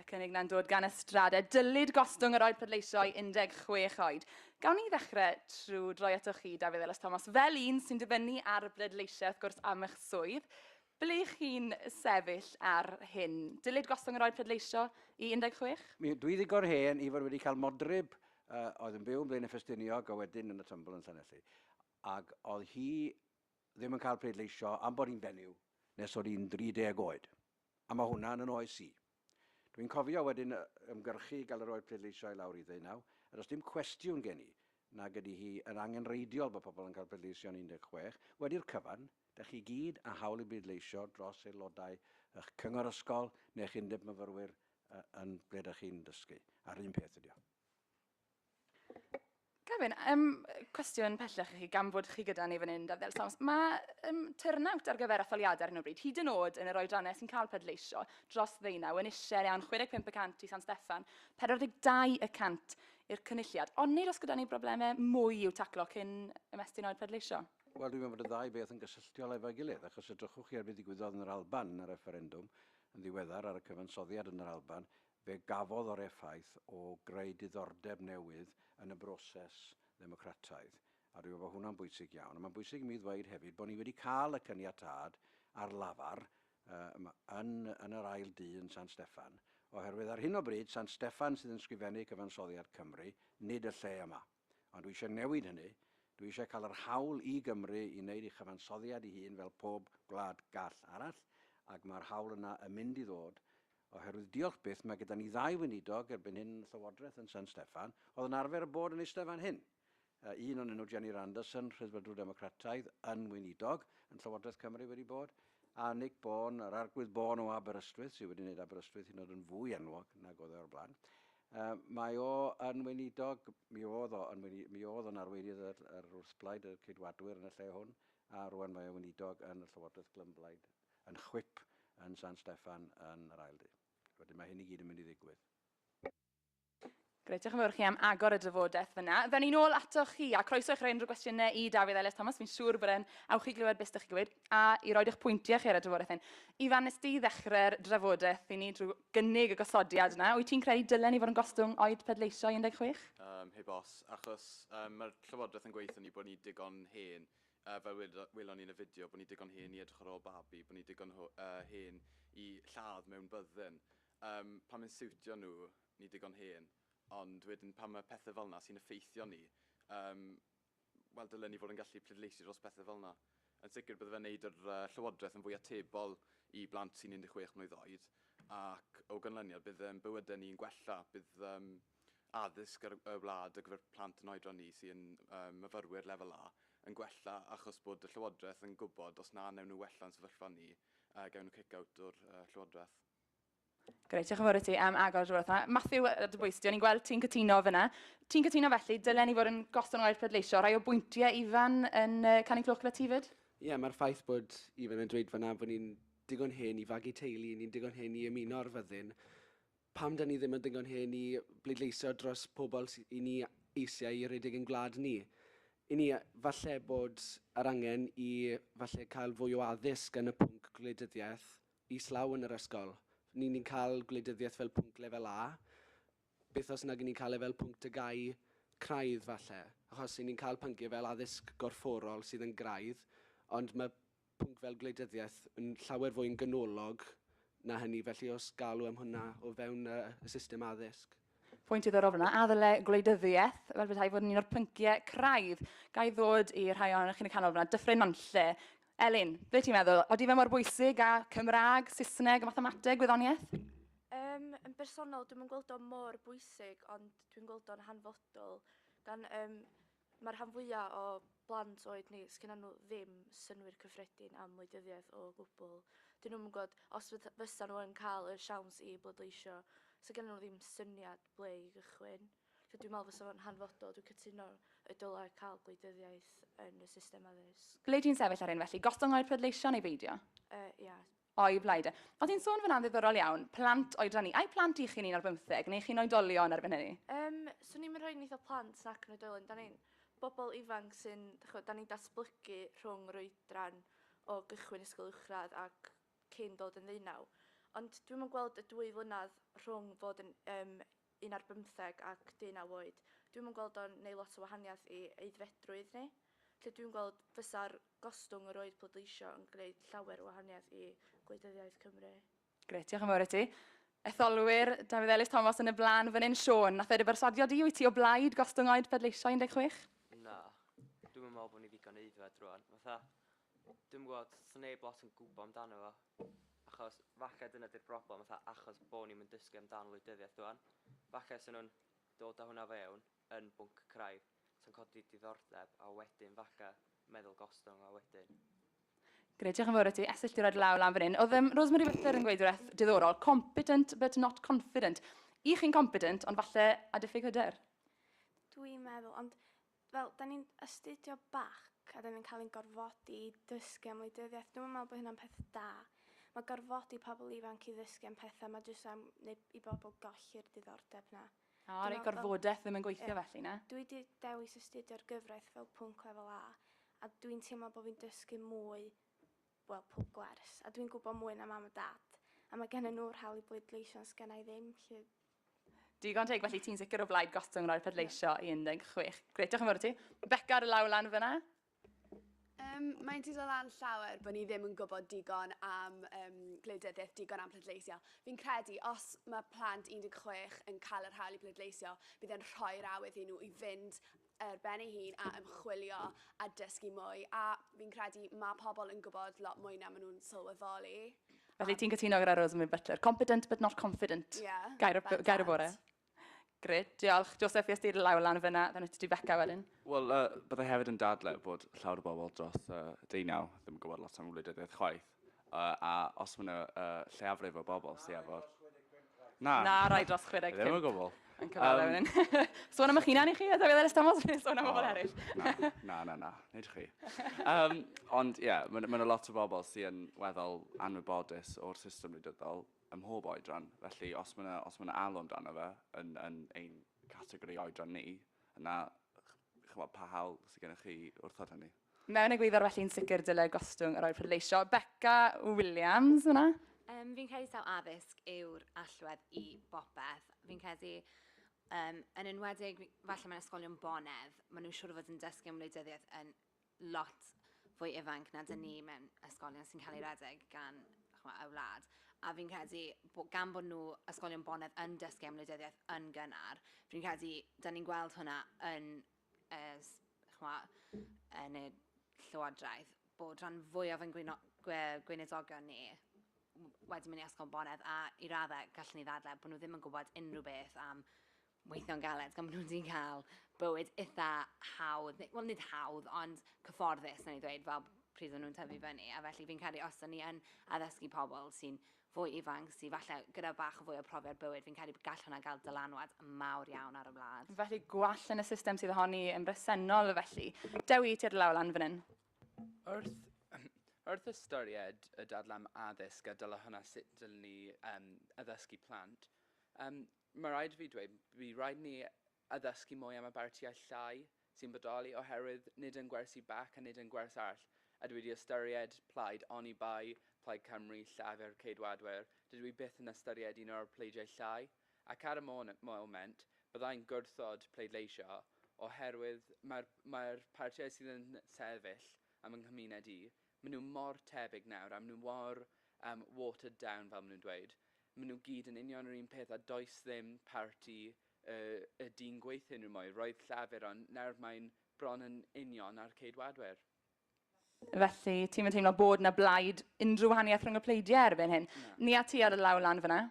Y cynnig na'n dod gan y Strade. Dylid gostwng yr oed pleidleisio i 16 oed. Gawn ni ddechrau trwy droi atoch chi, Dafydd Elis Thomas, fel un sy'n dibynnu ar bleidleisiau, wrth gwrs, am eich swydd. Ble chi'n sefyll ar hyn? Dylid gostwng yr oed pleidleisio i 16? Mi, dwi ddigon hen i fod wedi cael modryb uh, oedd yn byw yn Blaen y Ffestiniog a wedyn yn y Tymbl yn Llanelli. Ac oedd hi ddim yn cael pleidleisio am bod hi'n fenyw nes oedd hi'n 30 oed. A mae hwnna yn yn oes i. Dw i'n cofio wedyn ymgyrchu i gael yr oed pleidleisio i lawr i ddeunaw, a does dim cwestiwn gen i nag ydy hi yn angenrheidiol bod pobl yn cael pleidleisio yn 16. Wedi'r cyfan, dach chi gyd â hawl i bleidleisio dros aelodau y'ch cyngor ysgol neu'ch undeb myfyrwyr yn ble dach chi'n dysgu, a'r un peth ydy o. Gavin, um, cwestiwn pellach i chi, gan fod chi gyda ni fan hyn, Dafel Sams. Mae um, turnout ar gyfer etholiadau ar hyn o bryd, hyd yn oed yn yr oedrannau sy'n cael pedleisio dros ddeunaw, yn eisiau iawn 65 y cant i San Steffan, 42 y cant i'r cynulliad. Ond nid os gyda ni broblemau mwy i'w taclo cyn ymestyn oed pedleisio? Wel, dwi'n meddwl bod y ddau beth yn gysylltiol efo'i gilydd, achos edrychwch chi ar beth ddigwyddodd yn yr Alban yn y refferendwm yn ddiweddar ar y cyfansoddiad yn yr Alban, Fe gafodd yr effaith o greu diddordeb newydd yn y broses ddemocrataidd, a dwi'n meddwl bod hwnna'n bwysig iawn. A mae'n bwysig i mi ddweud hefyd bod ni wedi cael y caniatâd ar lafar yn yn yr ail dŷ yn San Steffan, oherwydd ar hyn o bryd San Steffan sydd yn sgrifennu Cyfansoddiad Cymru, nid y lle yma. Ond dwi eisiau newid hynny, dwi eisiau cael yr hawl i Gymru i wneud ei chyfansoddiad ei hun fel pob gwlad gall arall, ac mae'r hawl yna yn mynd i ddod, oherwydd diolch byth mae gyda ni ddau weinidog erbyn hyn yn y Llywodraeth yn San Steffan oedd yn arfer â bod yn eistedd fan hyn, un onyn nhw, Jenny Randerson, Rhyddfrydwr Democrataidd, yn weinidog yn Llywodraeth Cymru wedi bod, a Nick Bourne, yr Arglwydd Bourne o Aberystwyth, sydd wedi wneud Aberystwyth hyd yn oed yn fwy enwog nag oedd e o'r blaen. Yy, mae o yn weinidog, mi oedd o yn weini- mi oedd o'n arweinydd yr, yr wrthblaid, y Ceidwadwyr yn y lle hwn, a rwan mae o'n weinidog yn y Llywodraeth Glymblaid, yn chwip yn San Steffan yn yr ail du. Wedyn mae hyn i gyd yn mynd i ddigwydd. Grêt, diolch yn fawr i chi am agor y drafodaeth fyna. Fe ni'n ôl atoch chi, a croeso i chi roi unrhyw gwestiynau i Dafydd Elias Thomas, fi'n siŵr bod e'n awch i glywed beth ydych chi'n gweud, a i roed eich pwyntiau chi ar y drafodaeth hyn. Ifan, nes di ddechrau'r drafodaeth i ni drwy gynnig y gosodiad yna. Wyt ti'n credu dylen ni fod yn gostwng oed pleidleisio i 16? Yym, heb os, achos yym, mae'r Llywodraeth yn gweithio ni bod ni digon hen, uh, fel welon ni yn y fideo, bod ni digon hen i edrych ar ôl babi, bod ni digon uh, hen i lladd mewn byddin. Um, pan mae'n siwtio nhw, ni digon hen, ond wedyn pan mae pethau fel yna sy'n effeithio ni, um, wel, dylen ni fod yn gallu pleidleisio dros bethau fel yna. Yn sicr, bydde fe'n wneud yr Llywodraeth yn fwy atebol i blant sy'n 16 mlwydd oed, ac o ganlyniad, bydd ein bywydau ni'n gwella. Bydd um, addysg ar y wlad ar gyfer plant yn oedran ni sy'n um, myfyrwyr lefel A yn gwella achos bod y Llywodraeth yn gwybod os na wnewn nhw wella'n sefyllfa ni, uh, gawn nhw cic-out o'r uh, Llywodraeth. Grêt, diolch yn fawr i ti am agor y drwy'r yma. Matthew, a dy bwys ti, o'n i'n gweld ti'n cytuno fyna. Ti'n cytuno felly, dylen ni fod yn gosod nhw ar pleidleisio. Rhai o bwyntiau Ifan yn uh, canu clwch gyda ti fyd? Ie, yeah, mae'r ffaith bod Ifan yn dweud fyna bod ni'n digon hen i fagu teulu, ni'n digon hen i ymuno ar fyddin. Pam da ni ddim yn digon hen i bleidleisio dros pobl i ni eisiau i redeg yn gwlad ni? I ni, falle bod yr angen i falle cael fwy o addysg yn y pwnc gwleidyddiaeth, islaw yn yr ysgol. Ni ni'n cael gwleidyddiaeth fel pwnc lefel A. Byth os nag 'yn ni'n cael e fel pwnc dygau craidd falle. Achos 'yn ni'n cael pynciau fel addysg gorfforol sydd yn graidd, ond mae pwnc fel gwleidyddiaeth yn llawer fwy'n ganolog na hynny. Felly os galw am hwnna o fewn y system addysg. Pwynt diddorol fyna, a ddyle gwleidyddiaeth fel bethau fod yn un o'r pynciau craidd. Ga i ddod i rhai ohonoch chi'n y canol fyna, Dyffryn Nantlle. Elin, be ti'n meddwl? Oeddi fe mor bwysig a Cymraeg, Saesneg a mathemateg, gwyddoniaeth? Um, yn bersonol, dwi'n gweld o mor bwysig, ond dwi'n gweld o'n hanfodol. Gan, um, Mae'r rhan fwyaf o blant oed ni, sgynnon nhw ddim synwyr cyffredin am wleidyddiaeth o gwbl. Dyn nhw'm yn gwybod os fydd- fysa nhw yn cael y siawns i bleidleisio. Sa gennyn nhw ddim syniad ble i gychwyn. Felly dwi'n meddwl fysa fo'n hanfodol, dwi'n cytuno y dylai cael gwleidyddiaeth yn y system addysg. Ble ti'n sefyll ar hyn felly? Gostwng oer pleidleisio neu beidio? Yy, ia. O, y blaid. Oedd hi'n sôn fan'na'n ddiddorol iawn, plant oedran ni. Ai plant i chi'n un ar bymtheg, neu chi'n oedolion erbyn hynny? Yym, swn i'm yn rhoi nitho plant nac yn oedolion. Da ni'n bobl ifanc sy'n, dach ch'mod, da ni'n datblygu rhwng yr oedran o gychwyn ysgol uwchradd ac cyn dod yn ddeunaw. Ond dwi'm yn gweld y dwy flynadd rhwng fod yn yym un ar bymtheg ac deunaw oed. Dwi'm yn gweld o'n neud lot o wahaniaeth i aeddfedrwydd ni. Lle dwi'n gweld fysa'r gostwng yr oed pleidleisio yn gneud llawer o wahaniaeth i gwleidyddiaeth Cymru. Grêt, diolch yn fawr i ti. Etholwyr, Dafydd Elis Thomas yn y blaen fan hyn. Siôn, nath e dy berswadio di, wyt ti o blaid gostwng oed pleidleisio 16? Na, dwi'm yn meddwl bod ni ddigon aeddfed rwan. Fatha, Dwi'm yn gwbod, sneb lot yn gwbo amdano fo, achos falle dyna di'r broblem fatha achos bo ni'm yn dysgu amdan wleidyddiaeth ŵan, falle sa nhw'n dod a hwnna fewn yn bwnc craidd sa'n codi diddordeb a wedyn falle meddwl gostwng a wedyn. Grêt, diolch yn fawr ati. Esyllt di roi'r law lan fan hyn. Oedd um, Rosemary Whitler yn gweud rhywbeth diddorol, competent but not confident. I chi'n competent, ond falle a diffyg hyder? Dwi'n meddwl, ond fel, 'dan ni'n astudio bac a 'dan ni'n cael ein gorfodi i ddysgu am wleidyddiaeth. Dwi'm yn meddwl bod hynna'n peth da. Ma' gorfodi pobl ifanc i ddysgu am pethau, ma' jyst am wneud i bobl golli'r diddordeb 'na. O, reit, gorfodaeth ddim yn gweithio felly, na? Dwi 'di dewis astudio'r gyfraith fel pwnc lefel A, a dwi'n teimlo bod fi'n dysgu mwy, wel, pob gwers, a dwi'n gwybod mwy na mam a dad, a mae gennym nhw'r hawl i bleidleisio ond 'sgenna i ddim, felly... Digon teg, felly ti'n sicr o blaid gostwng rhoi'r pedleisio i 16. Gret, diolch yn fawr i ti. Beca ar y law lan fyna. Um, mae'n dod o lan llawer bod ni ddim yn gwybod digon am um, gwleidyddiaeth, digon am pleidleisio. Fi'n credu, os mae plant 16 yn cael yr hawl i pleidleisio, bydd e'n rhoi'r awydd i nhw i fynd ar ben ei hun a ymchwilio a dysgu mwy, a fi'n credu mae pobl yn gwybod lot mwy na maen nhw'n sylweddoli. Felly ti'n cytuno gyda Rosamund Butler, competent but not confident, yeah, gair, gair y bore. Gret, diolch. Joseph, fi ystir lawr lan fyna, fe wnaeth ti Becca wedyn. Wel, uh, byddai hefyd yn dadle bod llawer o bobl dros uh, deunaw ddim yn gwybod lot am wleidyddiaeth chwaith. Uh, a os mae yna uh, lleiafrif o bobl sy'n efo... Na. Na, rai dros 65. Ddim o gwbl. Yn cyfadda um, wedyn. Sôn am eich hunan i chi, a David Eres Thomas, neu sôn am bobl eraill. Na, na, na, nid chi. Um, ond ie, yeah, mae yna lot o bobl sy'n weddol anwybodus o'r system wleidyddol ym mhob oedran. Felly, os mae yna, os mae yna alw amdano fe yn, yn ein categori oedran ni, yna chymod pa hawl sydd gennych chi wrthod hynny? Mewn egwyddor felly yn sicr dylai gostwng yr oedd pleidleisio. Beca Williams yna. Um, fi'n credu taw addysg yw'r allwedd i bopeth. Fi'n credu Um, yn enwedig, falle mae'n ysgolion bonedd, maen nhw'n siŵr o fod yn dysgu am wleidyddiaeth yn lot fwy ifanc na dyn ni mewn ysgolion sy'n cael ei redeg gan chwa, y wlad. A fi'n credu, bod, gan bod nhw ysgolion bonedd yn dysgu am wleidyddiaeth yn gynnar, fi'n credu, da ni'n gweld hwnna yn ers, chwa, yn y Llywodraeth, bod rhan fwyaf yn gwyno, gwe, gweiniddogion ni wedi mynd i Ysgol Bonedd a i raddau gallwn ni ddadle bod nhw ddim yn gwybod unrhyw beth am weithio'n galed gan bod nhw wedi cael bywyd eitha hawdd, wel nid hawdd ond cyfforddus yn ei ddweud fel pryd o'n nhw'n tyfu fyny a felly fi'n credu os o'n ni yn addysgu pobl sy'n fwy ifanc sy falle gyda bach fwy o profiad bywyd, fi'n credu gall hwnna gael dylanwad mawr iawn ar y wlad. Felly gwall yn y system sydd ohoni yn bresennol felly. Dewi, ti ar y law lan fan hyn. Wrth Wrth ystyried y dadlam addysg a dyla hwnna sut dylwn ni um, addysgu plant, um, mae rhaid i fi dweud, bydd rhaid ni a ddysgu mwy am y bartiau llai sy'n bodoli oherwydd nid yn gwersi bac a nid yn gwers arall ydw i wedi ystyried plaid oni bai Plaid Cymru Llafur Ceidwadwyr dydw i byth yn ystyried un o'r pleidiau llai ac ar y moment byddai'n gwrthod pleidleisio oherwydd mae'r mae'r partiau sydd yn sefyll am fy nghymuned i maen nhw mor tebyg nawr a maen nhw mor um, watered down fel maen nhw'n dweud maen nhw gyd yn union yr un peth a does ddim parti Y y dyn gweithyn rw mwy. Roedd Llafur ond nawr mae'n bron yn union a'r Ceidwadwyr. Felly, ti'm yn teimlo bod 'na blaid unrhyw wahaniaeth rhwng y pleidiau erbyn hyn? Na. Ni a ti ar y law lan fyna.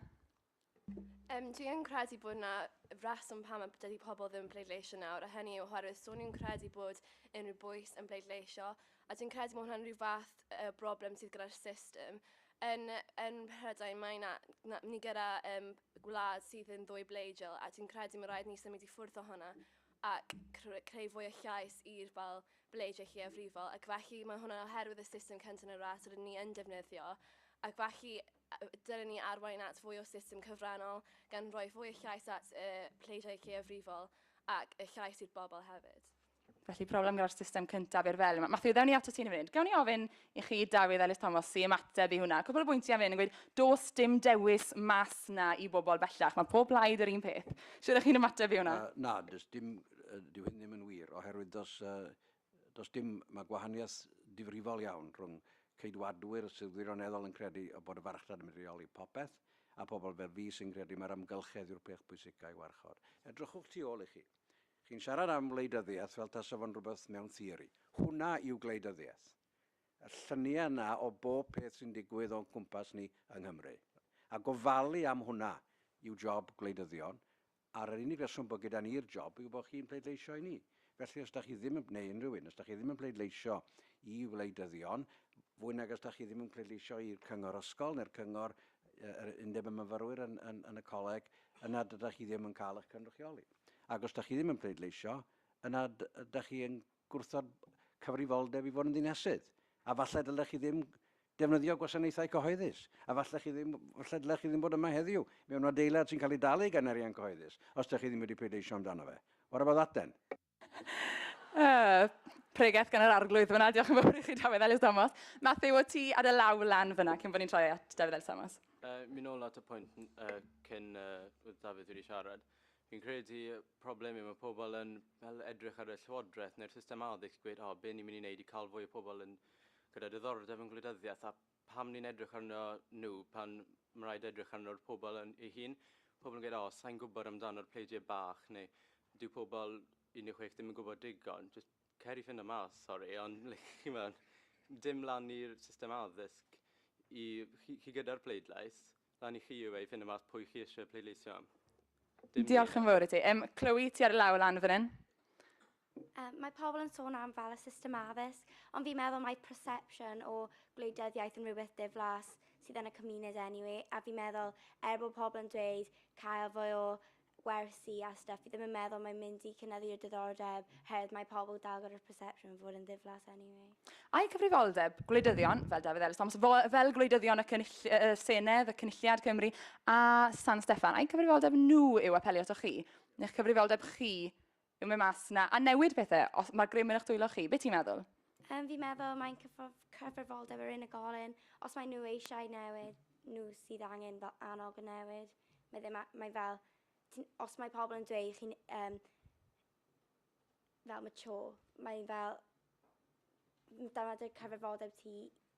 Um, dwi yn credu bod yna reswm pam y dydy pobl ddim yn pleidleisio nawr, a hynny yw oherwydd so ni'n credu bod unrhyw bwys yn pleidleisio, a dwi'n credu bod hwnna'n rhyw fath uh, broblem sydd gyda'r system, Yn, yn Mhrydain mae na, na, ni gyda um, gwlad sydd yn ddwy bleidiol a dwi'n credu mae rhaid ni symud i ffwrdd o hwnna ac creu fwy o llais i'r fel bleidiau lleiafrifol ac felly mae hwnna'n oherwydd y system cynta yn y ras rydyn ni yn defnyddio ac felly dylen ni arwain at fwy o system cyfrannol gan roi fwy o llais at y pleidiau lleiafrifol ac y llais i'r bobl hefyd. Felly, problem gyda'r system cyntaf i'r fel. Matthew, ddewn ni ato ti'n mynd. Gawn ni ofyn i chi, Dafydd Ellis Thomas, i ymateb i hwnna. Cwbl o bwyntiau fan hyn yn gweud, dos dim dewis mas na i bobl bellach. Mae pob blaid yr un peth. Sut ydych chi'n ymateb i hwnna? Uh, na, does dim, uh, dyw hyn ddim yn wir, oherwydd dos, uh, dos dim, mae gwahaniaeth difrifol iawn rhwng ceidwadwyr sydd wirioneddol yn credu o bod y farchnad yn medrioli popeth, a pobl fel fi sy'n credu mae'r amgylchedd yw'r peth bwysicau i warchod. Edrychwch tu ôl i chi. Chi'n siarad am wleidyddiaeth fel tasa fo'n rhywbeth mewn theori. Hwnna yw gwleidyddiaeth. Y lluniau yna o bob peth sy'n digwydd o'n cwmpas ni yng Nghymru. A gofalu am hwnna yw job gwleidyddion, a'r yr unig reswm bod gyda ni'r job yw bod chi'n pleidleisio i ni. Felly os da chi ddim yn, neu unrhyw un, os da chi ddim yn pleidleisio i wleidyddion, fwy nag os da chi ddim yn pleidleisio i'r cyngor ysgol neu'r cyngor yr undeb y myfyrwyr yn, yn, yn y coleg, yna dydych chi ddim yn cael eich cynrychioli. Ac os da chi ddim yn pleidleisio, yna da chi yn gwrthod cyfrifoldeb i fod yn ddinesydd. A falle dylech chi ddim defnyddio gwasanaethau cyhoeddus. A falle, chi ddim, falle dylech chi ddim bod yma heddiw mewn adeilad sy'n cael ei dalu gan arian cyhoeddus, os da chi ddim wedi pleidleisio amdano fe. What about that then? Uh, pregeth gan yr arglwydd fyna. Diolch yn fawr i chi, Dafydd Ellis Thomas. Matthew, o ti ar y law lan fyna, cyn bod ni'n troi at Dafydd Ellis Thomas. Uh, mi nôl at y pwynt uh, cyn uh, Dafydd wedi siarad. Fi'n credu y problem yw mae pobl yn fel edrych ar y llywodraeth neu'r system addysg i gweud o, be ni'n mynd i wneud i cael fwy o pobl yn gyda diddordeb yn gwleidyddiaeth a pam ni'n edrych arno nhw pan mae'n rhaid edrych arno'r pobl yn ei hun. Pobl yn gweud o, sa'n gwybod amdano'r pleidiau bach neu dyw pobl 16 ddim yn gwybod digon. Jyst cer i ffindo mas, sori, ond like, chimod, dim lan i'r system addysg i chi, chi gyda'r pleidlais. Lan i chi yw e i ffindo mas pwy chi isie pleidleisio am. Dim ni. Diolch yn fawr i ti. Yym, Chloe, ti ar y law lan fan hyn. Um, mae pobl yn sôn am fel y system addysg, ond fi'n meddwl mae perception o gwleidyddiaeth yn rhywbeth diflas sydd yn y cymuned anyway, a fi'n meddwl, er bod pobl yn dweud cael fwy o gwersi a stwff, fi ddim yn meddwl mae'n mynd i cynyddu'r diddordeb oherwydd mae pobl yn dal gyda'r perception o fod yn ddiflas anyway. Ai cyfrifoldeb gwleidyddion fel Dafydd Elis Thomas, fel gwleidyddion y Senedd, y Cynulliad Cymru a San Steffan, ai cyfrifoldeb nhw yw apelio atoch chi? Neu'ch cyfrifoldeb chi Yw mae mas 'na a newid pethe? Os mae'r grym yn eich dwylo chi, be ti'n meddwl? Yym fi'n meddwl mae'n cyfrif- cyfrifoldeb yr unigolyn. Os maen nhw eisiau newid, nhw sydd angen fel annog y newid. Mae ddim a- mae fel ti'n os mae pobl yn dweud chi'n yym fel mature, mae fel m- dyma dy cyfrifoldeb ti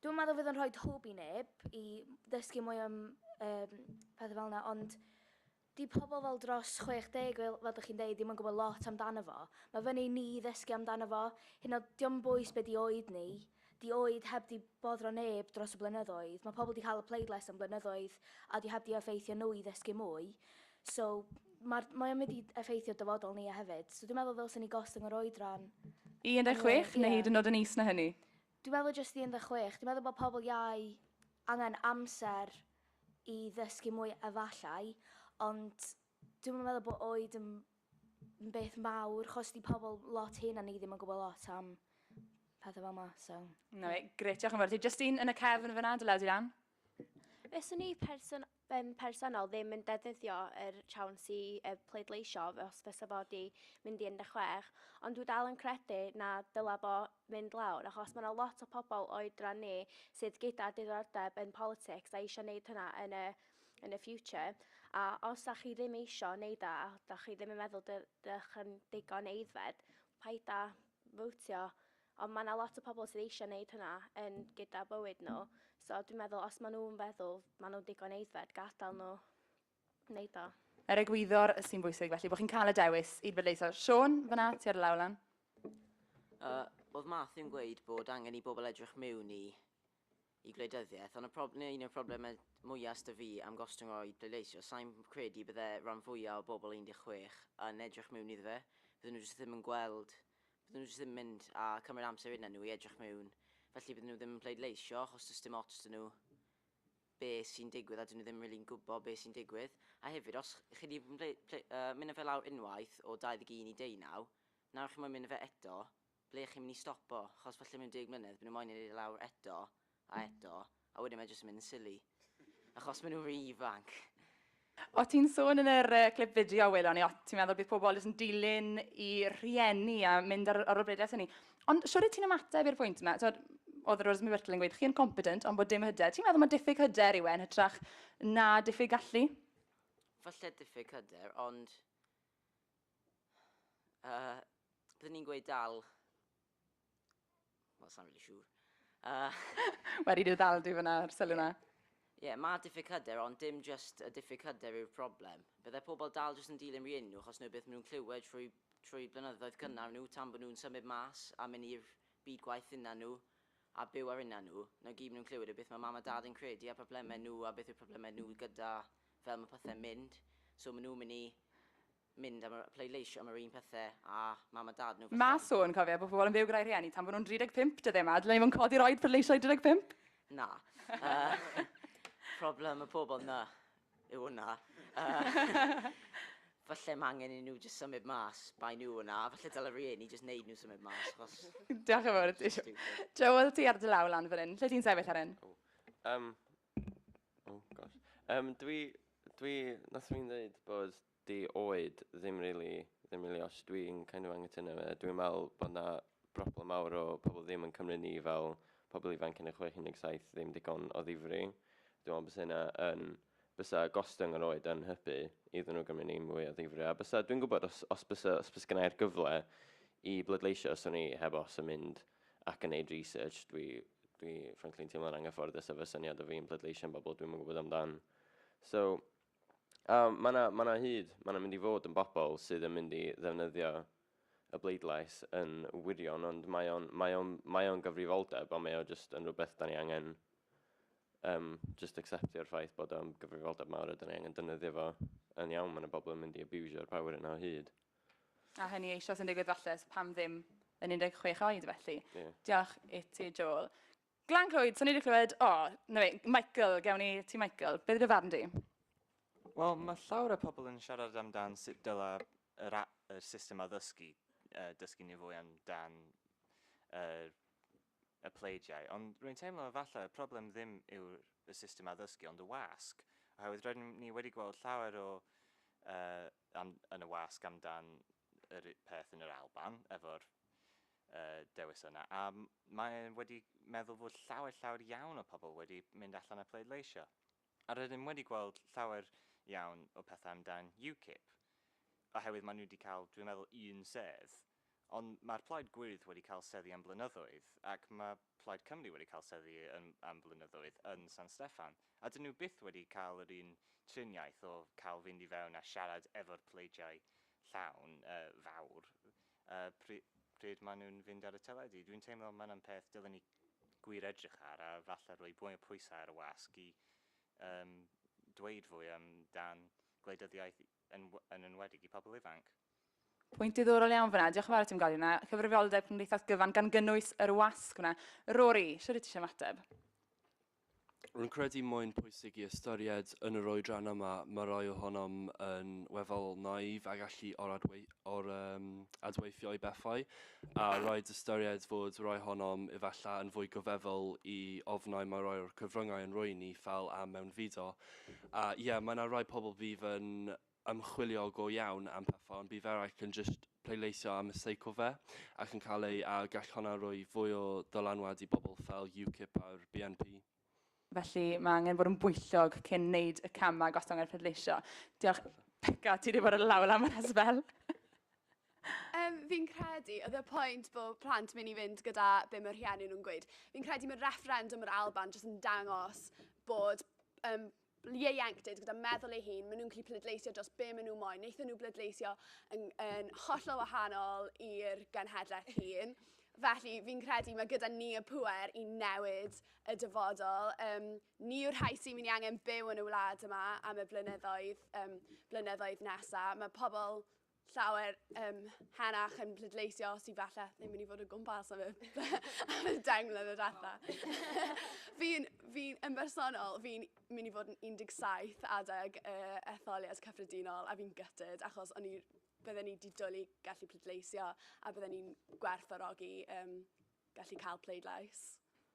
Dwi'n meddwl fydd yn rhoi hwb i neb i ddysgu mwy am um, pethau fel yna, ond di pobl fel dros 60, fel, fel ydych chi'n dweud, ddim yn gwybod lot amdano fo. Mae fyny ni ddysgu amdano fo. Hyn o, diom bwys beth di oed ni. Di oed heb di boddro neb dros y blynyddoedd. Mae pobl di cael y pleidlais am blynyddoedd a di heb di effeithio nhw i ddysgu mwy. So, mae, mae o'n mynd i effeithio dyfodol ni a hefyd. So, dwi'n meddwl ddylsyn ni gostwng yr oedran. 16 neu hyd yn oed yn is na hynny? Dwi'n meddwl jyst i un deg chwech, dwi'n meddwl bod pobl iau angen amser i ddysgu mwy efallai, ond dwi'm yn meddwl bod oed yn yn beth mawr, achos 'di pobl lot hŷn na ni ddim yn gwybod lot am pethau fel 'ma, so... Na, grêt, diolch yn fawr. Jyst un yn y cefn fyna, dy law di lan. Fyswn i person, um, personol ddim yn defnyddio yr siawns i uh, pleidleisio os fysa fo di mynd i 16, ond dwi dal yn credu na dyla bo mynd lawr, achos mae yna lot o pobl oedran ni sydd gyda diddordeb yn politics a eisiau gwneud hynna yn y, yn y future. A os da chi ddim eisiau gwneud a da chi ddim yn meddwl dych yn digon eiddfed, paid a fwtio Ond mae 'na lot o pobl sydd eisiau neud hynna yn gyda bywyd nhw. So dwi'n meddwl os maen nhw'n feddwl maen nhw'n digon aeddfed, gadael nhw neud o. Yr egwyddor sy'n bwysig felly, bod chi'n cael y dewis i bleidleisio. Siôn, fan'na, ti ar y law lan. Yy, oedd Matthew yn gweud bod angen i bobl edrych miwn i i gwleidyddiaeth, ond y prob- neu un o'r problemau mwya' s'da fi am gostwng o i pleidleisio, sai'n credu bydde ran fwya' o bobl 16 yn edrych miwn iddo fe, bydden nhw jyst ddim yn gweld, bydden nhw jyst ddim yn mynd a cymryd amser arnyn nhw i edrych miwn, felly bydden nhw ddim yn pleidleisio achos does dim ots 'da nhw be sy'n digwydd a 'dyn nhw ddim rili'n gwybod be sy'n digwydd. A hefyd, os chi 'di ble- ple- yy, mynd â fe lawr unwaith o 21 i 19, nawr chi'n moyn mynd â fe eto, Ble chi'n mynd i stopo? Chos falle mewn deg mlynedd, by nhw moyn ei neud e lawr eto, a eto, a wedyn mae jyst yn mynd yn silly. Achos mae nhw ry ifanc. O ti'n sôn yn yr clip fideo a welon ni, o ti'n meddwl bydd pobl jyst yn dilyn i rhieni a mynd ar, ar ôl bredell hynny. Ond siwr i ti'n ymateb i'r pwynt yma, tywed, oedd Rosemary Whittle yn gweud, chi yn competent ond bod dim hyder. Ti'n meddwl mae diffyg hyder yw e yn hytrach na diffyg gallu? Falle diffyg hyder, ond Uh, byddwn ni'n gweud dal... Wel, sa'n really siŵr. Uh... Wedi dweud dal dwi fyna ar sylw na. Ie, yeah, mae diffyg hyder, ond dim just y diffyg hyder yw'r problem. Byddai pobl dal jyst yn dilyn rhi enw, achos nhw beth maen nhw'n clywed trwy, trwy blynyddoedd cynnar nhw, tan bod nhw'n symud mas a mynd i'r byd gwaith unna nhw, a byw ar unna nhw. Na gyd maen nhw'n clywed yw beth mae mam a dad yn credu a problemau nhw a beth yw'r problemau nhw gyda fel mae pethau'n mynd, so maen nhw'n mynd i mynd am y pleidleisio am yr un pethau â mam a dad nhw falle. Mae sôn, cofia, bod pobl yn byw gyda'i rhieni tan bod nhw'n 35 dyddiau 'ma, dylen ni fod yn codi'r oed pleidleisio i 35? Na. Problem y pobl 'na yw hwnna. falle mae angen i nhw jyst symud mas, bai nhw yna, a falle dylai rhieni jyst wneud nhw symud mas, achos... Diolch yn fawr i ti. Joel, ti ar dy law lan fan hyn. Lle ti'n sefyll ar hyn? Um, Oh gosh. Um, dwi, dwi, nath fi'n dweud bod di oed ddim really, ddim really os dwi'n kind of angytuno fe. Dwi'n meddwl bod na broblem mawr o pobl ddim yn cymryd ni fel pobl ifanc yn y 617 ddim digon o ddifri. Dwi'n meddwl bod yna yn bysa gostwng yr oed yn hybu iddyn nhw gymryd ni mwy o ddifri. A bysa, dwi'n gwybod os, os bysa, os bysa gynnau'r gyfle i bleidleisio, os o'n i heb os yn mynd ac yn neud research, dwi, dwi frankly yn teimlo'n anghyfforddus efo syniad o fi'n pleidleisio am bobl dwi'm yn gwybod amdan. So, a mae yna ma na hyd, mae yna mynd i fod yn bobl sydd yn mynd i ddefnyddio y bleidlais yn wirion, ond mae o'n mae o'n mae o'n gyfrifoldeb, ond mae o jyst yn rhywbeth da ni angen um, just acceptio'r ffaith bod o'n gyfrifoldeb mawr a da ni angen defnyddio fo yn iawn, mae yna bobl yn mynd i abusio'r power yna o hyd. A hynny eisoes yn digwydd falle, so pam ddim yn 16 oed felly. Yeah. Diolch i ti, Joel. Glan Clwyd, so ni wedi clywed, o, oh, na fe, Michael, gewn ni ti Michael. Beth yw'r farn di? Wel, mae llawer o pobl yn siarad amdan sut dyla yr, yr system addysgu uh, dysgu ni fwy amdan uh, y pleidiau, ond rwy'n teimlo efallai y problem ddim yw'r y system addysgu ond y wasg, oherwydd rydym ni wedi gweld llawer o yy am, yn y wasg amdan yr peth yn yr Alban efo'r yy dewis yna, a mae wedi meddwl fod llawer llawer iawn o pobl wedi mynd allan a pleidleisio. A rydym wedi gweld llawer iawn o pethau amdan UKIP, oherwydd maen nhw wedi cael, dwi'n meddwl, un sedd. Ond mae'r Plaid Gwyrdd wedi cael seddi am blynyddoedd, ac mae Plaid Cymru wedi cael seddi yn, am flynyddoedd yn San Steffan, a 'dyn nhw byth wedi cael yr un triniaeth o cael fynd i fewn a siarad efo'r pleidiau llawn, yy, fawr, yy, pry- pryd maen nhw'n fynd ar y teledu. Dwi'n teimlo mae yna'n peth dylwn ni gwir edrych ar a falle rhoi mwy o pwysau ar y wasg i um, dweud fwy am dan gwleidyddiaeth yn, yn enwedig i pobl ifanc. Pwynt diddorol iawn fyna. Diolch yn fawr i ti'n gael yna. Cyfrifoldeb Cymdeithas Gyfan gan gynnwys yr wasg yna. Rory, sydd ti eisiau mateb? Rwy'n credu mae'n pwysig i ystyried yn yr oedran yma, mae rhai ohonom yn weddol naïf a gallu or-adweithio i bethau, a rhaid ystyried fod rhai ohonom efallai yn fwy goddefol i ofnau mae rhai o'r cyfryngau yn rhoi i ni, fel am mewnfudo. A ie, mae yna rai pobl fydd yn ymchwilio go iawn am pethau ond bydd eraill yn jyst pleidleisio am y sake of fe ac yn cael ei a gall honna roi fwy o ddylanwad i bobl fel UKIP a'r BNP. Felly mae angen bod yn bwyllog cyn wneud y camau gostyngiad pleidleisio. Diolch. Beca, ti wedi bod yn law lan fan hyn sbel. Yym, fi'n credu, oedd y pwynt bod plant mynd i fynd gyda be mae rhieni nhw'n gweud. Fi'n credu mae refferendwm yr Alban jyst yn dangos bod um, ieuenctid gyda meddwl ei hun, maen nhw'n gallu pleidleisio dros be maen nhw moyn. Wnaethon nhw bleidleisio yn, yn hollol wahanol i'r genhedlaeth hun. Felly, fi'n credu mae gyda ni y pwer i newid y dyfodol. Um, ni yw'r rhai sy'n mynd i angen byw yn y wlad yma am y blynyddoedd, um, blynyddoedd nesaf. Mae pobl llawer um, henach yn pleidleisio sydd falle ddim yn mynd i fod o gwmpas am y, am y deng mlynedd y ratha. fi'n, fi yn bersonol, fi'n mynd i fod yn 17 adeg uh, etholiad cyffredinol a fi'n gytyd achos o'n i bydden ni wedi dwlu gallu pleidleisio a bydden ni'n gwerthorogi um, gallu cael pleidlais.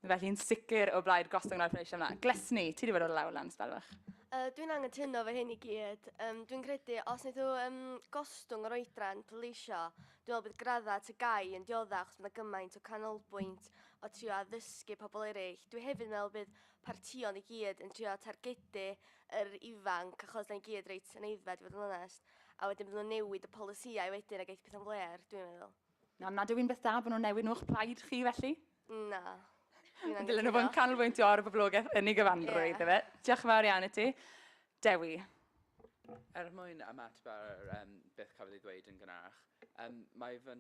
Felly'n sicr o blaid gostwng yn arfereisiau yma. Glesni, ti wedi bod o'r lawr lan sbel fach. Uh, dwi'n angytuno fe hyn i gyd. Um, dwi'n credu, os wnaethw um, gostwng yr oedran pleidleisio, dwi'n meddwl bydd gradda at y gai yn diodda achos bydd gymaint o canolbwynt o trio addysgu pobl eraill. Dwi hefyd yn meddwl bydd partion i gyd yn trio targedu yr ifanc achos da ni gyd reit yn eiddfed i fod yn onest. A wedyn bydd nhw'n newid y polisïau wedyn a geith pethau'n fler, dwi'n meddwl. Na, nad yw'n beth da bod nhw'n newid nhw o'ch plaid chi felly? Na. Dwi'n Dylen nhw fod yn canolbwyntio ar y boblogaeth yn ei gyfanrwydd, yeah. efe. Diolch yn fawr iawn i ti. Dewi. Er mwyn ymateb ar um, beth cafodd ei ddweud yn gynharach, um, mae, fy,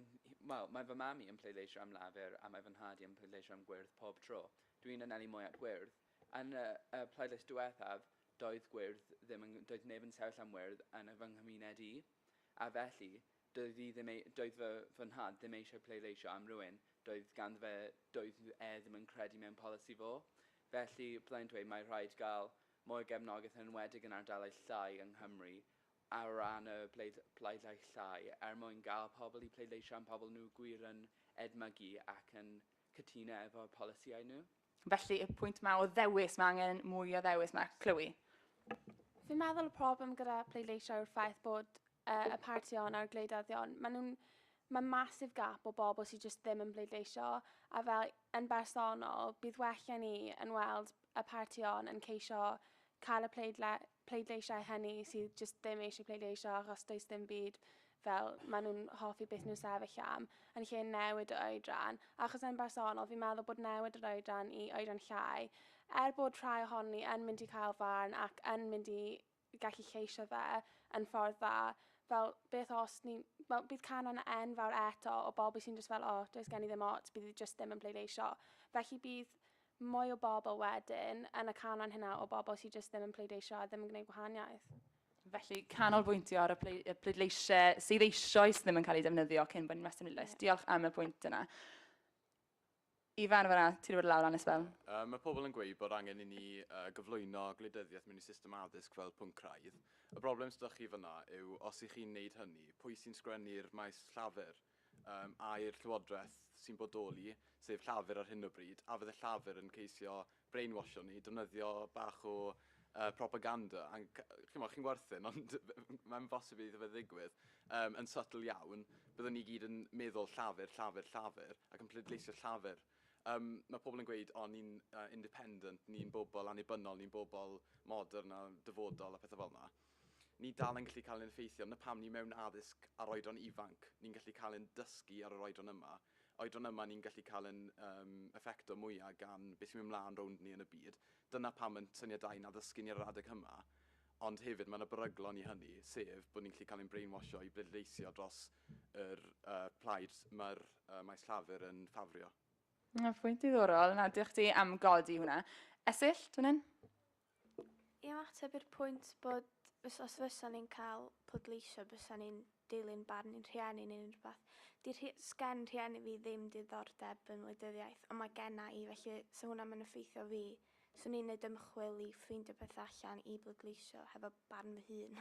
well, mae fy mam i yn pleidleisio am lafur a mae fy nhad i yn pleidleisio am gwyrdd pob tro. Dwi'n anelu mwy at gwyrdd. Yn y, y pleidlais diwethaf, doedd gwyrdd ddim yn, doedd neb yn sefyll am wyrdd yn y fy nghymuned i. A felly, Doedd hi ddim ei-, doedd fy, fy nhad ddim eisiau pleidleisio am rywun doedd ganddo fe, doedd e ddim yn credu mewn polisi fo. Felly, byddai'n dweud mai rhaid gael mwy o gefnogaeth yn enwedig yn ardaloedd llai yng Nghymru o ran y bleid-, pleidleisau er mwyn gael pobl i pleidleisio am pobl nhw gwir yn edmygu ac yn cytuno efo'r polisïau nhw. Felly, y pwynt yma o ddewis, mae angen mwy o ddewis yma. Chloe? Fi'n meddwl y problem gyda pleidleisio yw'r ffaith bod uh, y partïon a'r gwleidyddion, maen nhw'n mae masif gap o bobl sydd jyst ddim yn bleidleisio a fel yn bersonol bydd well ni yn weld y partïon yn ceisio cael y pleidle, pleidleisiau hynny sydd jyst ddim eisiau pleidleisio achos does dim byd fel maen nhw'n hoffi beth nhw'n sefyll am, yn lle newid o oedran, achos yn bersonol fi'n meddwl bod newid yr oedran i oedran llai, er bod rhai ohon ni yn mynd i cael farn ac yn mynd i gallu lleisio fe yn ffordd dda, fel beth os ni, wel bydd canran enfawr eto o bobl sy'n just fel o, oh, does gen i ddim ots, bydd i just ddim yn pleidleisio. Felly bydd mwy o bobl wedyn yn y canran hynna o bobl sy'n just ddim yn pleidleisio a ddim yn gwneud gwahaniaeth. Felly, canolbwyntio ar y pleidleisiau sydd eisoes ddim yn cael eu defnyddio cyn bod ni'n rhestr pleidlais. Diolch am y pwynt yna. Ifan, fanna, ti'n rhywbeth lawr lan esbel. Uh, mae pobl yn gweud bod angen i ni uh, gyflwyno gwleidyddiaeth mewn i system addysg fel pwnc craidd. Y broblem sydd chi fyna yw, os ych chi'n neud hynny, pwy sy'n sgwennu'r maes llafur? Yym, ai'r Llywodraeth sy'n bodoli, sef Llafur ar hyn o bryd, a fydd y Llafur yn ceisio brainwashio ni, defnyddio bach o uh, propaganda, a chi'n chi'n werthin, ond mae'n bosib iddo fe ddigwydd, um, yn subtle iawn, byddwn ni gyd yn meddwl llafur, llafur, llafur, ac yn pleidleisio llafur. Um, mae pobl yn gweud, o, ni'n uh, independent, ni'n bobl annibynnol, ni'n bobl modern a dyfodol a pethau fel yna. Ni dal yn gallu cael ein effeithio, 'na pam ni mewn addysg ar oedran ifanc, ni'n gallu cael ein dysgu ar yr oedran yma, oedran yma ni'n gallu cael yn um, effecto mwya gan beth sy'n mynd mlaen rownd ni yn y byd. Dyna pam yn syniad da i na ddysgu ni ar yr adeg hyma, ond hefyd mae yna beryglon i hynny, sef bod ni'n gallu cael ein brainwasho i bleidleisio dros yr uh, plaid mae'r uh, maes llafur yn ffafrio. Mae pwynt diddorol, na, diolch ti am godi hwnna. Esill, dwi'n hyn? I ymateb i'r pwynt bod, fys- os fysa ni'n cael pleidleisio bysa ni'n dilyn barn i'n rhieni neu unrhyw beth, 'di rhi- 'sgen rhieni fi ddim diddordeb yn wleidyddiaeth, ond mae genna i, felly 'sa hwnna ddim yn effeithio fi. 'Swn i'n neud ymchwil i ffeindio pethau allan i bleidleisio hefo barn fy hun.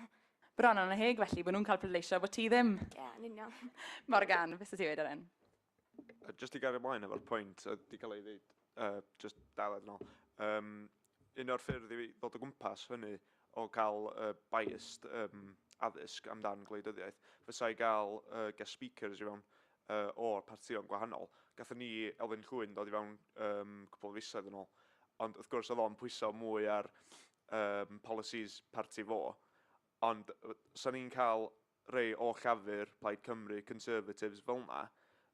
Bron annheg felly, bod nhw'n cael pleidleisio a bod ti ddim! Ie, yn union. Morgan, be 'sa ti'n dweud ar hyn? Just i gario ymlaen efo'r pwynt oedd wedi cael ei ddeud, uh, just daled yn ôl, um, un o'r ffyrdd i ddod o gwmpas hynny o gael uh, biased um, addysg amdan gwleidyddiaeth, fysa i gael uh, guest speakers i fewn uh, o'r partïon gwahanol. Gatho ni Elfyn Llwyn dod i fewn um, cwbl o fisoedd yn ôl, ond wrth gwrs oedd o'n pwyso mwy ar um, policies parti fo, ond sa'n ni'n cael rhei o Llafur, Plaid Cymru, Conservatives, fel 'na,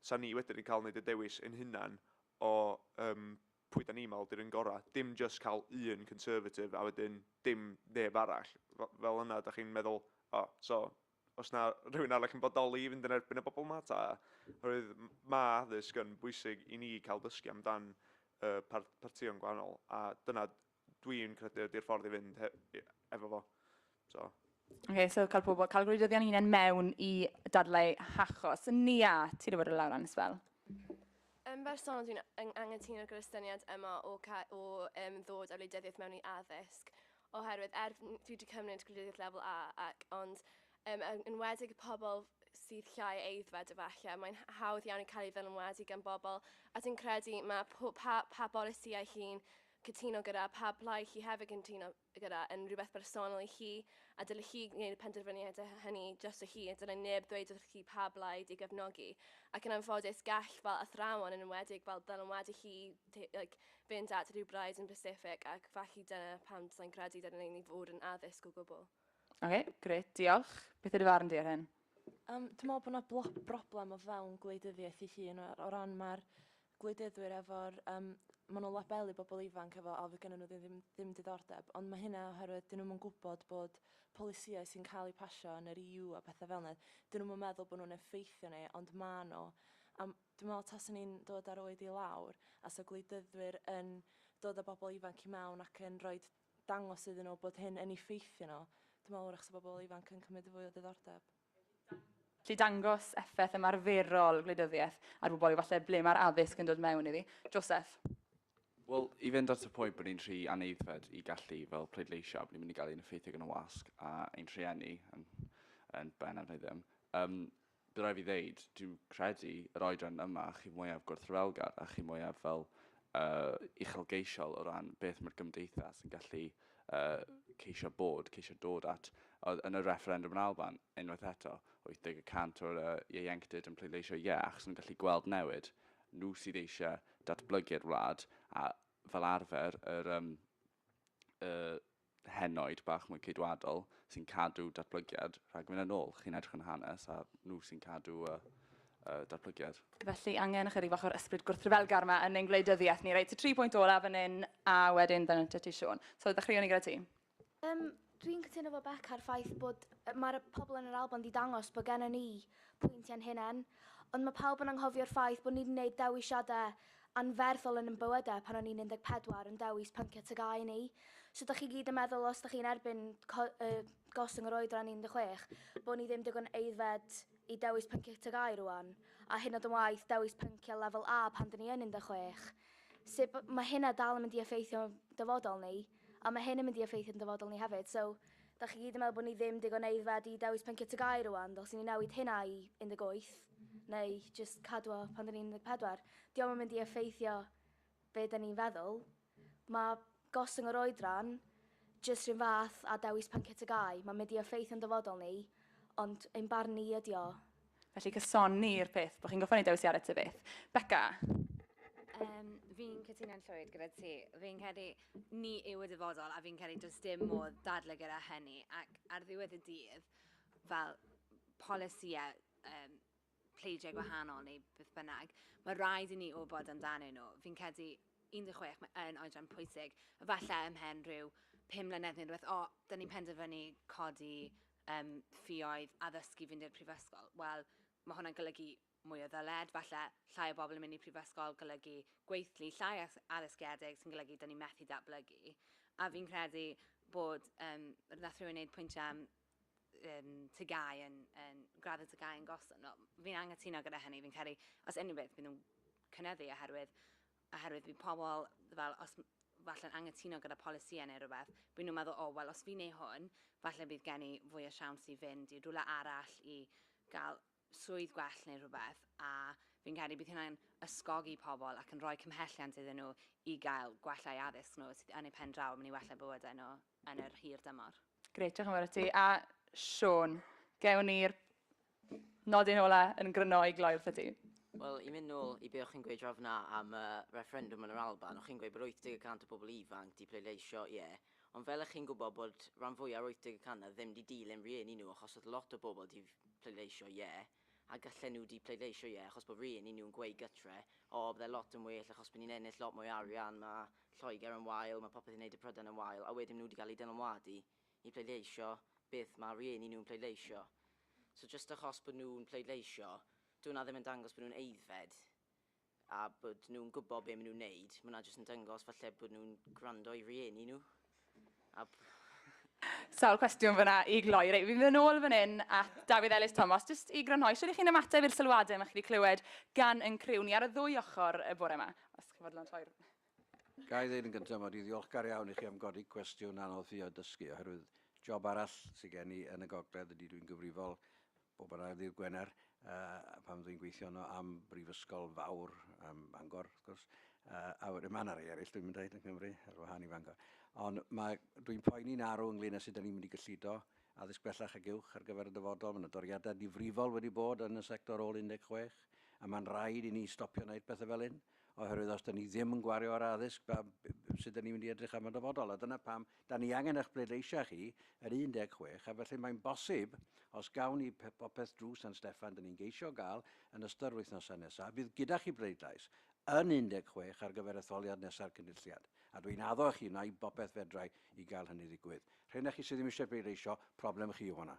'sa ni wedyn yn cael neud y dewis ein hunan o yym pwy 'da ni'n meddwl 'di'r un gora'. Dim jyst cael un Conservative a wedyn dim neb arall. F- fel yna, 'da chi'n meddwl, o, so, os na rhywun arall yn bodoli i fynd yn erbyn y bobl 'ma ta? Oherwydd m- ma' addysg yn bwysig i ni cael dysgu amdan yy par- partïon gwahanol a dyna Dwi'n credu ydy'r ffordd i fynd efo fo. So. Okay, so cael pobl, cael gwleidyddion hunain mewn i dadlau hachos. Nia, ti'n rhywbeth o lawr annes fel? Yn bersonol, dwi'n angytuno gyda'r syniad yma o, o um, ddod â wleidyddiaeth mewn i addysg, oherwydd er dwi wedi cymryd gwleidyddiaeth lefel A, ac ond um, yn wedig y pobl sydd llai eiddfed efallai, mae'n hawdd iawn i cael ei ddylanwadu gan bobl, a dwi'n credu mae pa, pa bolisiau chi'n cytuno gyda, pa blaid chi hefyd yn cytuno gyda, yn rhywbeth bersonol i chi, a dylech chi wneud y penderfyniad hynny drosto chi, a dylai neb ddweud wrth chi pa blaid i gefnogi. Ac yn anffodus, gall fel athrawon, yn enwedig fel dylanwadu chi, like, fynd at rhyw braid yn bysifig, ac felly dyna pam dylai'n credu dylai ni fod yn addysg o gwbl. Oce, grêt, diolch. Beth ydy farn di ar hyn? Um, dwi'n meddwl bod yna blo- broblem o fewn gwleidyddiaeth ei hun o, o ran mae'r gwleidyddwyr efo'r... Um, maen nhw'n labelu bobl ifanc efo o fydd gennym nhw ddim, ddim, ddim diddordeb, ond mae hynna oherwydd dyn nhw'n yn gwybod bod polisïau sy'n cael eu pasio yn yr EU a pethau fel yna, dyn nhw'n meddwl bod nhw'n effeithio ni, ond maen nhw. Um, dwi'n meddwl tas ni'n dod ar oed i lawr, a so gwleidyddwyr yn dod â bobl ifanc i mewn ac yn rhoi dangos iddyn nhw bod hyn yn effeithio nhw. Dwi'n meddwl wrach 'sa bobl ifanc yn cymryd fwy o ddiddordeb. Gallu dangos effaith ymarferol gwleidyddiaeth ar bobl yw falle ble mae'r addysg yn dod mewn iddi. Joseph. Wel, i fynd at y pwynt bod ni'n rhy anaeddfed i gallu fel pleidleisio, bod ni'n mynd i gael ein effeithio gan y wasg a ein rhieni yn, yn ben am ddim. Um, Bydd rhaid fi ddeud, dwi'n credu yr oedran yma chi mwyaf gwrthryfelgar a chi mwyaf fel uh, uchelgeisiol o ran beth mae'r gymdeithas yn gallu uh, ceisio bod, ceisio dod at. Oedd yn y refferendwm yn Alban, unwaith eto, 80 y cant o'r uh, ieuenctid yn pleidleisio ie, yeah, achos nhw'n gallu gweld newid. Nhw sydd eisiau datblygu'r wlad a fel arfer yr um, y henoed bach mwy ceidwadol sy'n cadw datblygiad rhag mynd yn ôl. Chi'n edrych yn hanes a nhw sy'n cadw y, y datblygiad. Felly angen ychydig bach o'r ysbryd gwrthryfelgar yma yn ein gwleidyddiaeth ni. Reit, so tri pwynt olaf yn un a wedyn fan yn ti Siôn. So ddechreuwn ni gyda ti. Um, Dwi'n cytuno 'fo Beca a'r ffaith bod... mae'r pobl yn yr Alban 'di dangos bod gennon ni pwynt i'n hunain, ond mae pawb yn anghofio'r ffaith bod ni 'di neud dewisiadau anferthol yn yn bywydau pan o'n ni'n 14 yn dewis pyncio tygau ni. So dach chi gyd yn meddwl os dach chi'n erbyn co- yy gostwng yr oedran 16 bod ni ddim digon aeddfed i dewis pyncio tygau rwan, a hyd yn oed yn waeth dewis pyncio lefel A pan 'dyn ni yn 16. Sut b- mae hynna dal yn mynd i effeithio'n dyfodol ni? A mae hyn yn mynd i effeithio yn dyfodol ni hefyd. So, dach chi gyd yn meddwl bod ni ddim digon aeddfed i dewis pynciau TGAU rwan, ddylsen ni newid hynna i 18, neu jyst cadw o pan 'da ni'n 14? Dio'm yn mynd i effeithio be 'da ni'n feddwl. Mae gostwng yr oedran jyst rhywun fath â dewis pynciau TGAU. Mae'n mynd i effeithio'n dyfodol ni, ond ein barn ni ydi o. Felly cysoni i'r peth, bod chi'n goffa ni dewis i ared ty beth. Becca? Um, fi'n cytuno'n llwyd gyda ti. Fi'n credu ni yw y dyfodol a fi'n credu does dim modd dadle gyda hynny ac ar ddiwedd y dydd fel polisïau um, pleidiau gwahanol neu beth bynnag, mae rhaid i ni wybod amdanyn nhw. Fi'n credu 16 mae yn oedran pwysig, efallai ymhen rhyw 5 mlynedd neu rhywbeth, o, da ni'n penderfynu codi Yym, ffioedd, addysgu, fynd i'r prifysgol. Wel, mae hwnna'n golygu mwy o ddyled, falle, llai o bobl yn mynd i'r prifysgol, golygu gweithlu llai as- addysgiedig, sy'n golygu 'da ni'n methu datblygu. A fi'n credu bod, yym, wnaeth rhywun wneud pwyntiau am um, tygau yn, yn graddau tygau yn gosod. No, fi'n anghytuno gyda hynny, fi'n credu, os unrhyw beth, bydd nhw'n cynyddu oherwydd oherwydd bydd pobl fel, os, falle'n anghytuno gyda polisïau neu rhywbeth, bydd nhw'n meddwl, o, wel, os fi'n ei hwn, falle bydd gen i fwy o siawns i fynd i rywle arall i gael swydd gwell neu rhywbeth, a fi'n credu bydd hynna'n ysgogi pobl ac yn rhoi cymhelliant iddyn nhw i gael gwella eu addysg nhw, sydd yn eu pen draw yn mynd i wella bywydau nhw. yn yr hir dymor. Grêt, diolch yn fawr i ti. A Siôn, gewn ni'r nodyn ola yn gryno i gloi wrth ti. Wel, i mynd nôl i be o'ch chi'n gweud draw fyna am y refferendwm yn yr Alban, o'ch chi'n gweud bod 80 y cant o bobl ifanc 'di pleidleisio ie, ond fel 'ych chi'n gwybod bod rhan fwya' o'r 80 y cant 'na ddim 'di dilyn rhieni nhw achos o'dd lot o bobl 'di pleidleisio ie, a gallen nhw di pleidleisio ie achos bod rhieni nhw'n gweud gytre o bydde lot yn well achos bod ni'n ennill lot mwy o arian ma Lloegr yn wael ma popeth yn neud y Prydain yn wael a wedyn ma nhw di gael eu dylanwadu i pleidleisio beth ma rhieni nhw'n pleidleisio so jyst achos bod nhw'n pleidleisio dyw hwnna ddim yn dangos bod nhw'n aeddfed a bod nhw'n gwybod be maen nhw'n neud. Mae hwnna jyst yn dangos falle bod nhw'n gwrando i rieni nhw. A... Sawl cwestiwn fyna i gloi. Reit, fi'n mynd ôl fan hyn at Dafydd Elis Thomas, jyst i grynhoi, siwr i chi'n ymateb i'r sylwadau mae chi wedi clywed gan yn criw ni ar y ddwy ochr y bore yma, os chi'n fodlon troi'r... Ga i ddeud yn gyntaf mod i'n ddiolchgar iawn i chi am godi cwestiwn anodd fi o dysgu, oherwydd job arall sydd gen i yn y gogledd ydy dwi'n gyfrifol Bob yn ail ddydd Gwener, pan dwi'n gweithio yno am brifysgol fawr, am Bangor, wrth gwrs, a wedyn mae yna rei eraill dwi'n mynd dweud yn Cymru, ar wahân i Fangor. Ond mae, dwi'n poeni'n arw ynglyn â sut da ni'n mynd i gyllido addysg bellach ac uwch ar gyfer y dyfodol. Mae yna doriadau difrifol wedi bod yn y sector ôl 16, a mae'n rhaid i ni stopio wneud pethau fel hyn, oherwydd os da ni ddim yn gwario ar addysg, sut da ni'n mynd i edrych am y dyfodol? A dyna pam Da ni angen eich pleidleisiau chi, yr 16, a felly mae'n bosib, os gawn ni popeth drwy San Steffan, da ni'n geisio gael yn ystod yr wythnosau nesaf, fydd gyda chi bleidlais yn 16 ar gyfer etholiad nesa'r Cynulliad. A dwi'n addo i chi wneud bopeth fedrai i gael hynny ddigwydd. Rheina chi sydd ddim eisiau pleidleisio, problem chi yw honna.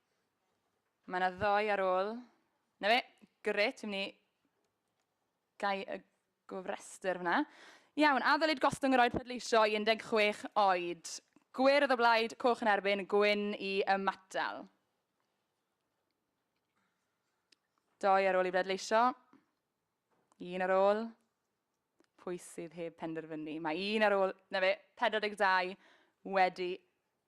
Mae yna ddoi ar ôl. Na fe, gret, dwi'n mynd i gau y gofrestr fyna. Iawn, a ddylid gostwng yr oed pleidleisio i 16 oed? Gwyrdd o blaid, coch yn erbyn, gwyn i ymatal. Doi ar ôl i bleidleisio. Un ar ôl. Pwy sydd heb penderfynu? Mae un ar ôl, na fe, 42 wedi